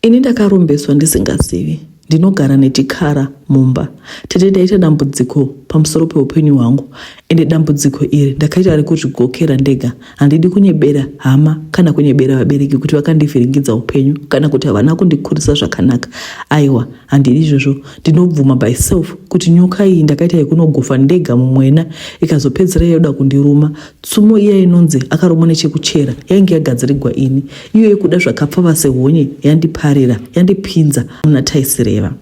Ini ndakarombeswa ndisingazivi. Ndinogara nechikara mumba. Tete ndaita dambudziko pamusoro peupenyu hwangu ende dambudziko iri ndakaita rekuzvigokera ndega. Handidi kunyebera hama kana kunyebera vabereki kuti vakandivhiringidza upenyu kana kuti havana kundikurisa zvakanaka. Aiwa, handidi izvozvo. Ndinobvuma by self kuti nyoka iyi ndakaita yekunogufa ndega mumwena ikazopedzera yoda kundiruma Tsumo iya inonzi akaromwa nechekuchera yainge yagadzirigwa ini, iyo yekuda zvakapfava sehonye yandiparira, yandipinza muna taisireva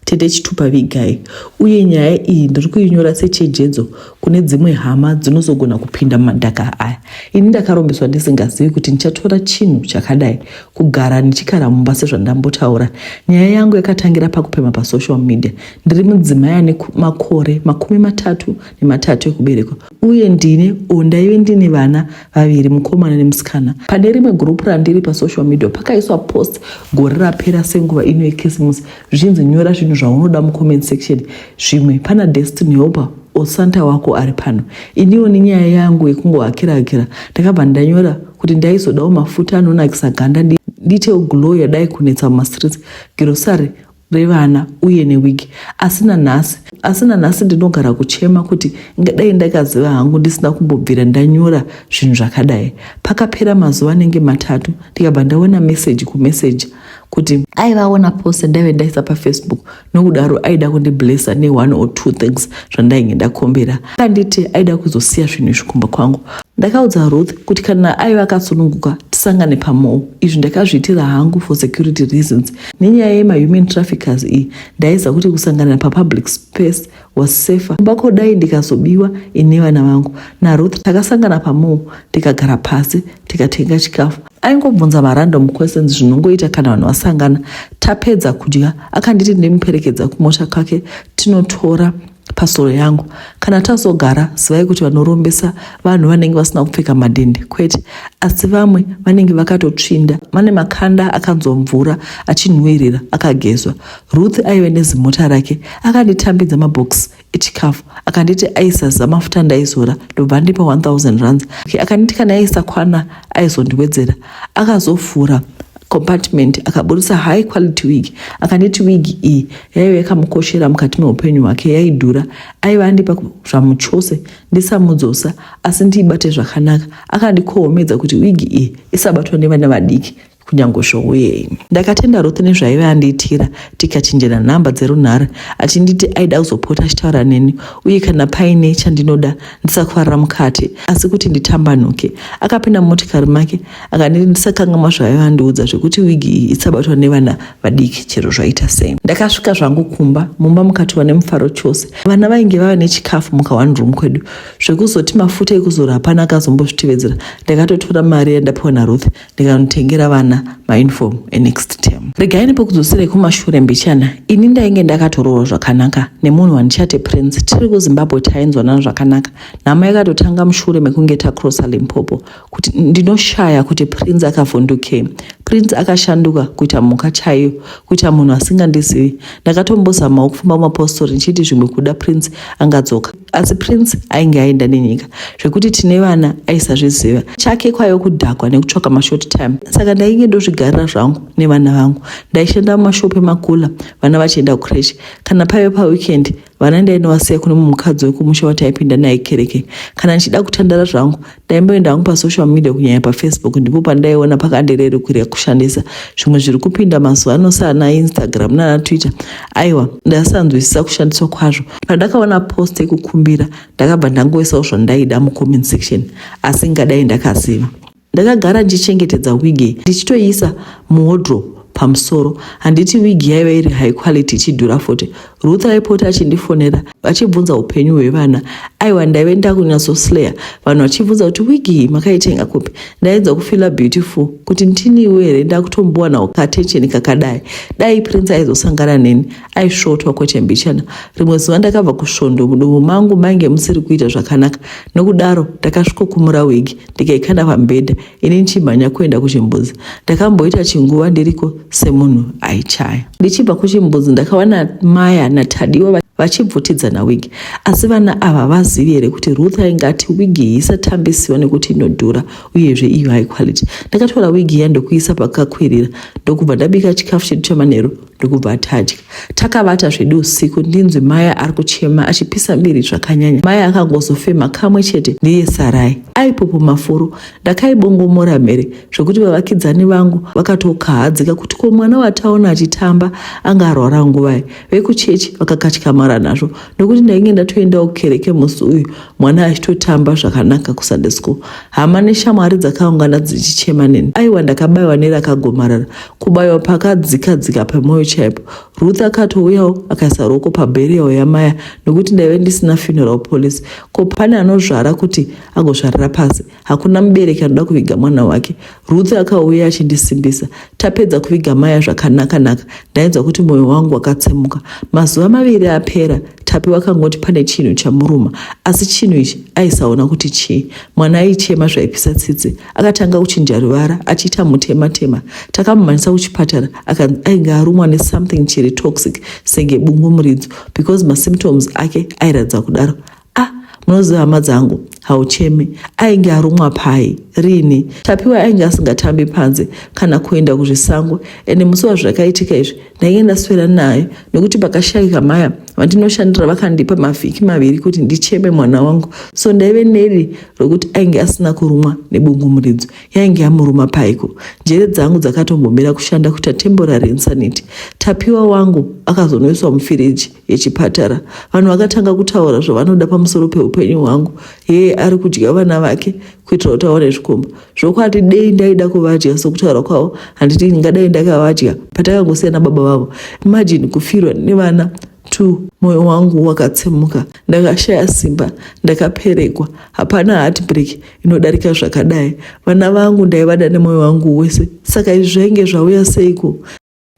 tete chitupa vigai uye nyaya iyi ndiri kuinyora sechejedzo kune dzimwe hama dzinozogona kupinda mumadhaka aya ini ndakarombeswa ndisingazivi kuti ndichatora chinhu chakadai kugara ndichikara mumba sezvandambotaura nyaya yangu yakatangira pakupema pasocial media ndiri mudzimai ane makore makumi matatu nematatu ekuberekwa uye ndine or ndaive ndine vana vaviri mukomana nemusikana pane rimwe group randiri pasocial media pakaiswa post gore rapera senguva ino yekisimusi zvichinzi nyora zvinhu zvaunoda mucomment section zvimwe pana destiny hoper osanta wako ari pano iniwo nenyaya yangu yekungovakira akira ndakabva ndanyora kuti ndaizodawo mafuta anonakisa ganda ndiitewo glow yadai kunetsa mumastreets girosari revana uye newig asi nanhasi asi nanhasi ndinogara kuchema kuti ngadai ndakaziva hangu ndisina kumbobvira ndanyora zvinhu zvakadai pakapera mazuva anenge matatu ndikabva ndaona meseji kumeseja kuti aivaona pose ndaive ndaisa pafacebook nokudaro aida kundiblessa ne-one or two things zvandainge ndakombera akanditi aida kuzosiya zvinhu izvi kumba kwangu ndakaudza ruth kuti kana aiva akasununguka tisangane pamowo izvi ndakazviitira hangu for security reasons nenyaya yemahuman traffickers iyi ndaiziva kuti kusangana papublic space was safer kumba kodai ndikazobiwa ine vana vangu naruth takasangana pamall tikagara pasi tikatenga chikafu aingobvunza marandom questions zvinongoita kana vanhu vasangana tapedza kudya akanditi ndimuperekedza kumota kwake tinotora pasoro yangu kana tazogara zivai kuti vanorombesa vanhu vanenge vasina kupfeka madhende kwete asi vamwe vanenge vakatotsvinda vane makanda akanzwa mvura achinhuwirira akagezwa ruth aive nezimota rake akanditambidza mabhokisi echikafu akanditi aisaza mafuta ndaizora ndobva ndipa 1000 rands akanditi kana aisakwana aizondiwedzera akazovhura compartment akaburitsa high quality wig akanditi wig iyi yaive yakamukoshera mukati meupenyu hwake yaidhura aive andipa zvamuchose ndisamudzosa asi ndiibate zvakanaka akandikohomedza kuti wig iyi isabatwa nevana vadiki kunyange zvowo yenyu ndakatenda rothe nezvaive andiitira tikachinjana nhamba dzerunhare achinditi aida kuzopota achitaura neni uye kana paine chandinoda ndisakufarira mukati asi kuti nditambanuke akapinda mumotikari make akaniri ndisakangamwa zvaayo andiudza zvekuti wigi iyi isabatwa nevana vadiki chero zvaita sei ndakasvika zvangu kumba mumba mukatiwa nemufaro chose vana vainge vava nechikafu mukaone room kwedu zvekuzoti mafuta ekuzora hapana akazombozvitevedzera ndakatotora mari yandapiwa naruth ndikanotengera vana mauniform enext term regai nepokudzoserai kumashure mbichana ini ndainge ndakatorohwa zvakanaka nemunhu wandichati prince tiri kuzimbabwe tainzwanana zvakanaka nhamo yakatotanga mushure mekunge takrosa limpopo kuti ndinoshaya kuti prince akavhundukei prince akashanduka kuita mhuka chaiyo kuita munhu asingandizivi ndakatombozamawo kufamba mumapostori ndichiti zvimwe kuda prince angadzoka asi prince ainge aenda nenyika zvekuti tine vana aisazviziva chake kwaive kudhakwa nekutsvaka mashort time saka ndainge ndozvigarira zvangu nevana vangu ndaishanda mumashopu emakula vana vachienda kucresh kana paive paweekend vana ndainovasiya kune mumukadzi wekumusha wataipinda naye kereke kana ndichida kutandara zvangu ndaimboenda hangu pasocial media kunyanya pafacebook ndipo pandaiona pakandirerukiria kushandisa zvimwe zviri kupinda mazuva ano saana instagram nana twitter aiwa ndaisanzwisisa kushandiswa kwazvo pandakaona post yekukumbira ndakabva ndangoisawo zvandaida mucomment section asi ngadai ndakaziva ndakagara ndichengetedza wigi ndichitoiisa muwodrop pamusoro handiti wigi yaiva iri high quality ichidhura 40 Ruth aipota achindifonera vachibvunza upenyu hwevana. Aiwa ndaive ndakunyatsoslayer vanhu vachibvunza kuti wigi makaitenga kupi. Ndainzwa kufila beautiful kuti ndiniwo here ndakutombowana katension kakadai. Dai Prince aizosangana neni aisvotwa kwete mbichana. Rimwe zuva ndakabva kusvondo mudumbu mangu mainge musiri kuita zvakanaka. Nokudaro ndakasvikokumura wigi ndikaikanda pambhedha. ini ndichimhanya kuenda kuchimbuzi ndakamboita chinguva ndiriko semunhu aichaya ndichibva kuchimbuzi ndakawana maya natadiwa vachibvutidzana wigi asi vana ava vazivi here kuti ruth ainge ati wigi iyi isatambisiwa nekuti inodhura uyezve iyo high quality ndakatora wigi iya ndokuisa pakakwirira ndokubva ndabika chikafu chedu chamanheru ndokubva tadya takavata zvedu usiku ndinzwi maya ari kuchema achipisa miri zvakanyanya maya akangozofema kamwe chete ndiye sarai aipopo mafuro ndakaibongomora mhere zvekuti vavakidzani vangu vakatokahadzika kuti ko mwana wataona achitamba anga arwara nguvai vekuchechi vakakatyamara nazvo nokuti ndainge ndatoendawo kereke musi uyu mwana achitotamba zvakanaka kusunday school hama neshamwari dzakaungana dzichichema neni aiwa ndakabaiwa nerakagomarara kubaiwa pakadzika dzika pemwoyo chaipo ruth akatouyawo akaisa ruoko pabheriyawo yamaya nokuti ndaive ndisina funeral police ko pane anozvara kuti agozvarira pasi Hakuna mubereki anoda kuviga mwana wake. Ruth akauya achindisimbisa. Tapedza kuviga Maya zvakanaka naka. Ndainzwa kuti moyo wangu wakatsemuka. Mazuva maviri apera, Tapi wakangoti pane chinhu chamuruma, asi chinhu ichi aisaona kuti chii. Mwana aichema zvaipisa tsitsi. Akatanga kuchinja ruvara, achiita mutema tema. Takamumhanyisa kuchipatara, akanzi ainge arumwa ne something chiri toxic senge bungu muridzo because masymptoms ake airatidza kudaro. Ah, munoziva hama dzangu, haucheme. Ainge arumwa pai? Rini? Tapiwa ainge asingatambi panze kana kuenda kuzvisango ende musi wazvakaitika izvi ndainge ndaswera nayo nekuti pakashaika maya vandinoshandira vakandipa mavhiki maviri kuti ndicheme mwana wangu so ndaive neri rokuti ainge asina kurumwa nebungumuridzo yainge yamuruma paiko njere dzangu dzakatombomira kushanda kuita temporary insanity tapiwa wangu akazonoiswa mufiriji yechipatara vanhu vakatanga kutaura zvavanoda pamusoro peupenyu hwangu hee ari kudya vana vake kuitira kuti aone zvikomba zvokwati dei ndaida kuvadya sokutaura kwavo handiti ndingadai ndakavadya patakangosiyana baba vavo imajini kufirwa nevana two mwoyo wangu wakatsemuka ndakashaya simba ndakaperekwa hapana heartbreak inodarika zvakadai vana vangu ndaivada nemwoyo wangu wese saka izvi zvainge zvauya seiko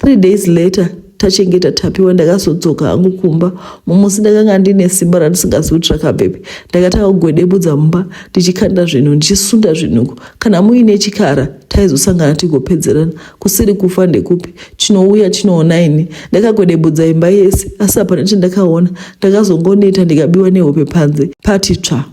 Three days later tachengeta tapiwa ndakazodzoka hangu kumba mumusi ndakanga ndine simba randisingazi kuti rakabvepi ndakatanga kugwedebudza mumba ndichikanda zvinhu ndichisunda zvinhuku kana muine chikara taizosangana tigopedzerana kusiri kufa ndekupi chinouya chinoona ini ndakagwedebudza imba yese asi hapana chandakaona ndakazongoneta ndikabiwa nehope panze pati tsva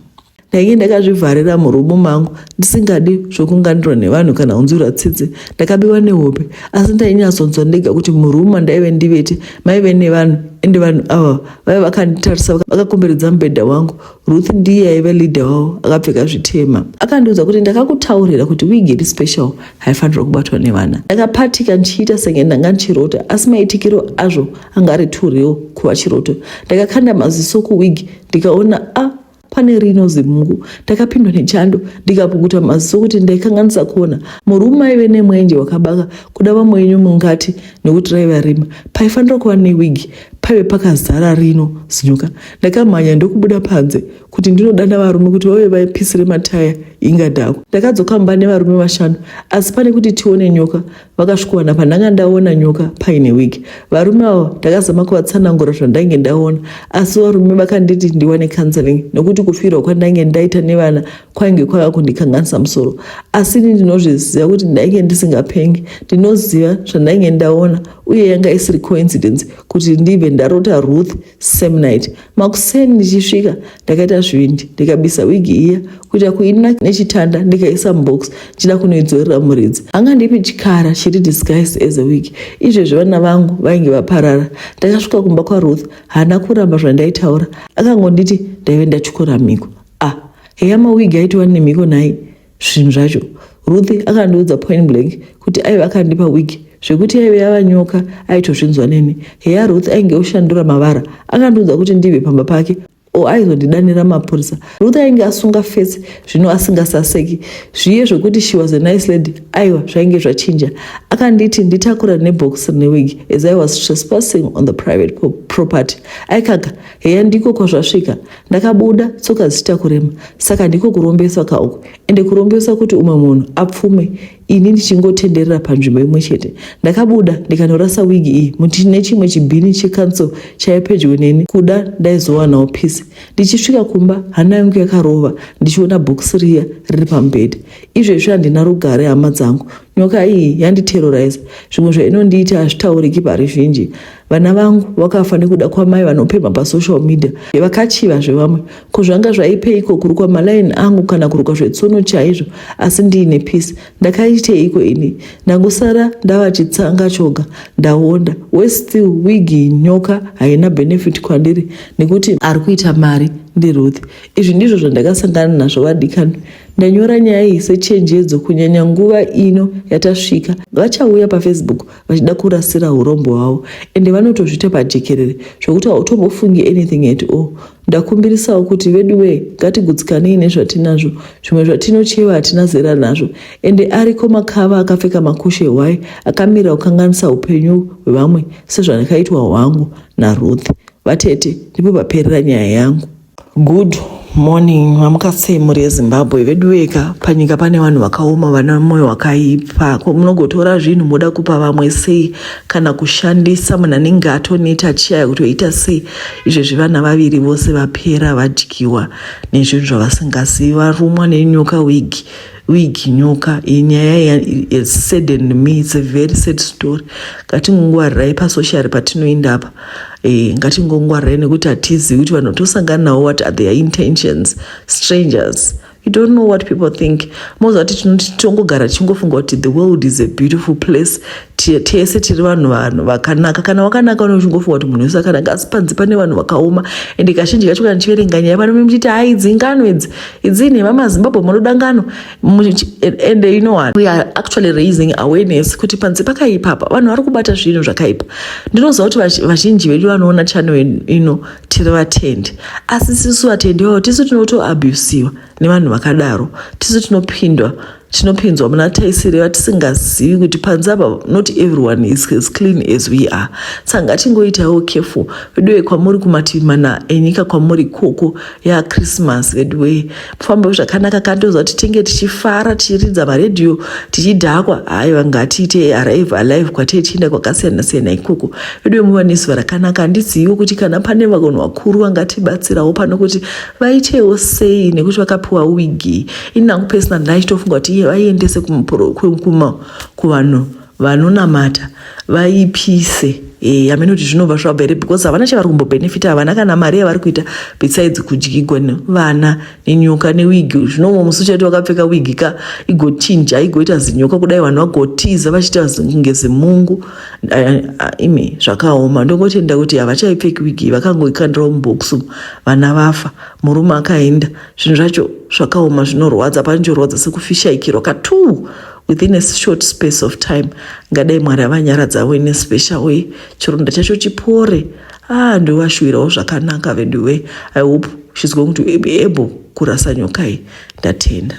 ndainge ndakazvivharira murumu mangu ndisingadi zvokunganirwa nevanhu kana kunzwirwa tsitsi ndakabiwa nehope asi ndainyatsonzwa ndega kuti murumu mandaive ndivete maive nevanhu ende vanhu ava vaive vakanditarisa vakakomberedza mubhedha wangu ruth ndiye aive leader wavo akapfeka zvitema akandiudza kuti ndakakutaurira kuti wigi iri special haifanirwa kubatwa nevana ndakapatika ndichiita senge ndanga ndichirota asi maitikiro azvo anga ari too real kuva chiroto ndakakanda maziso kuwigi ndikaona a ah, pane rino zimungu ndakapindwa nechando ndikapukuta maziso kuti ndaikanganisa kuona murume aive nemwenje wakabaka kuda vamwe enyu mungati nekuti raiva rima paifanira kuva newigi paive pakazara rino zinyuka ndakamhanya ndokubuda panze kuti ndinodana varume kuti vave vaipisire mataya ingadhakwa ndakadzoka mba nevarume vashanu asi pane kuti tione nyoka vakasvikowana pandanga ndaona nyoka paine wig varume avo ndakazama kuvatsanangura zvandainge ndaona asi varume vakanditi ndiwane counseling nekuti kufirwa kwandainge ndaita nevana kwainge kwava kundikanganisa musoro asi ini ndinozviziva kuti ndainge ndisingapengi ndinoziva zvandainge ndaona uye yanga isiri coincidence kuti ndive ndarota ruth same night makuseni ndichisvika ndakaita zvivindi ndikabisa wigi iya kuita kuina nechitanda ndikaisa mubox ndichida kunoidzorera muridzi anga ndipi chikara chiri disguised as a wig izvezvi vana vangu vainge vaparara ndakasvika kumba kwaruth haana kuramba zvandaitaura akangonditi ndaive ndatyora mhiko ah heya mawigi aitiwa nemhiko nhai zvinhu zvacho ruth akandiudza point blank kuti aive akandipa wig zvekuti yaive yava nyoka aitozvinzwa neni heya ruth ainge oshandura mavara akandiudza kuti ndibve pamba pake o aizondidanira mapurisa ruth ainge asunga fesi zvino asingasaseki zviye zvekuti she was a nice lady aiwa zvainge zvachinja akanditi nditakura nebox rine wig as i was trespassing on the private property aikaka heya ndiko kwazvasvika ndakabuda tsoka dzichita kurema saka ndiko kurombeswa ka uku ende kurombeswa kuti umwe munhu apfume ini ndichingotenderera panzvimbo imwe chete ndakabuda ndikanorasa wigi iyi mutine chimwe chibhini chekanso chaive pedyo neni kuda ndaizowanawo pisi ndichisvika kumba hana yangu yakarova ndichiona bhokisi riya riri pamubhedha izvezvi handina rugare hama dzangu Nyoka iyi yanditerrorize zvimwe zvainondiita hazvitauriki paruzhinji. Vana vangu vakafa nekuda kwamai vanopemha pasocial media vakachiva zvevamwe. Ko zvanga zvaipeiko kurukwa malaini angu kana kurukwa zvetsono chaizvo asi ndiine peace? Ndakaiteiko ini? Ndangosara ndava chitsanga choga ndaonda. Worse still wig nyoka haina benefit kwandiri nekuti ari kuita mari ndiRuth. Izvi ndizvo zvandakasangana nazvo vadikani. Ndanyora nyaya iyi sechenjedzo kunyanya nguva ino yatasvika. Vachauya paFacebook vachida kurasira urombo hwavo ende vanotozvita pajekerere zvokuti hautombofungi anything at all. Ndakumbirisawo kuti veduwee ngatigutsikanei nezvatinazvo. Zvimwe zvatinocheva hatina zera nazvo ende ariko makava akapfeka makushe hwai akamira kukanganisa upenyu hwevamwe sezvandakaitwa hwangu naRuth. Vatete ndipo paperera nyaya yangu. Good morning mamuka sei mhuri yezimbabwe veduweka panyika pane vanhu vakaoma vana moyo wakaipa ko munogotora zvinhu moda kupa vamwe sei kana kushandisa munhu anenge atoneta chiyaya kutoita sei izvezvi vana vaviri vose vapera vadyiwa nezvinhu zvavasingazivi varumwa nenyoka wigi wig nyoka inyaya saddened me it's a very sad story ngatingongwarirai pasociary patinoinda apa e, ngatingongwarirai nekuti hatizivi kuti vanhu tosangana navo what are their intentions strangers you don't know what people think moziva kuti tinoti tongogara tichingofunga kuti the world is a beautiful place tese tiri vanhu vanhu vakanaka kana wakanaka une uchingofunga kuti munhu wese akanaka asi panze pane vanhu vakaoma ende kazhinji kacho kana tichiverenga nyaya vanome muchiti haidzi ngano idzi Idzi nhema maZimbabwe munoda ngano and you know what we are actually raising awareness kuti panze pakaipa apa vanhu vari kubata zvinhu zvakaipa ndinoziva kuti vazhinji vedu vanoona channel ino tiri vatendi asi tisu vatendi vavo tisu tinotoabusiwa nevanhu vakadaro tisu tinopindwa tinopinzwa muna taisiri vatisingazivi kuti panze apa not everyone is as clean as we are saka ngatingoitawo careful veduwe kwamuri kumativi mana enyika kwamuri ikoko yachristmas veduwe mufambo zvakanaka kandoziva kuti tinge tichifara tichiridza maredhiyo tichidhakwa haiwa ngatiite arrive alive kwatee tichienda kwakasiyana siyana ikoko veduwe muva nezuva rakanaka handizivi kuti kana pane vakonhu vakuru vangatibatsirawo pano kuti vaitewo sei nekuti vakapiwa wigi ini nangu pesina ndaitofunga kuti iye vaiendese kuvanhu vanonamata vaipise e, eh, amene kuti zvinobva zvabva here because havana chavari kumbobhenefita havana kana mari yavari kuita besides kudyigwa nevana nenyoka newigi zvinomo musi uchaiti wakapfeka wigi ka igochinja igoita zinyoka kudai vanhu vagotiza vachiita kunge zimungu imi zvakaoma ndongotenda kuti havachaipfeki wigi vakangoikandirawo mubhokisi vana vafa murume akaenda zvinhu zvacho zvakaoma zvinorwadza panjorwadza sekufishaikirwa katuu within a short space of time ngadai mwari avanyaradzavo ine special way chironda chacho chipore ah ndovashuwirawo zvakanaka veduwe i hope she's going to be able kurasa nyoka iyi ndatenda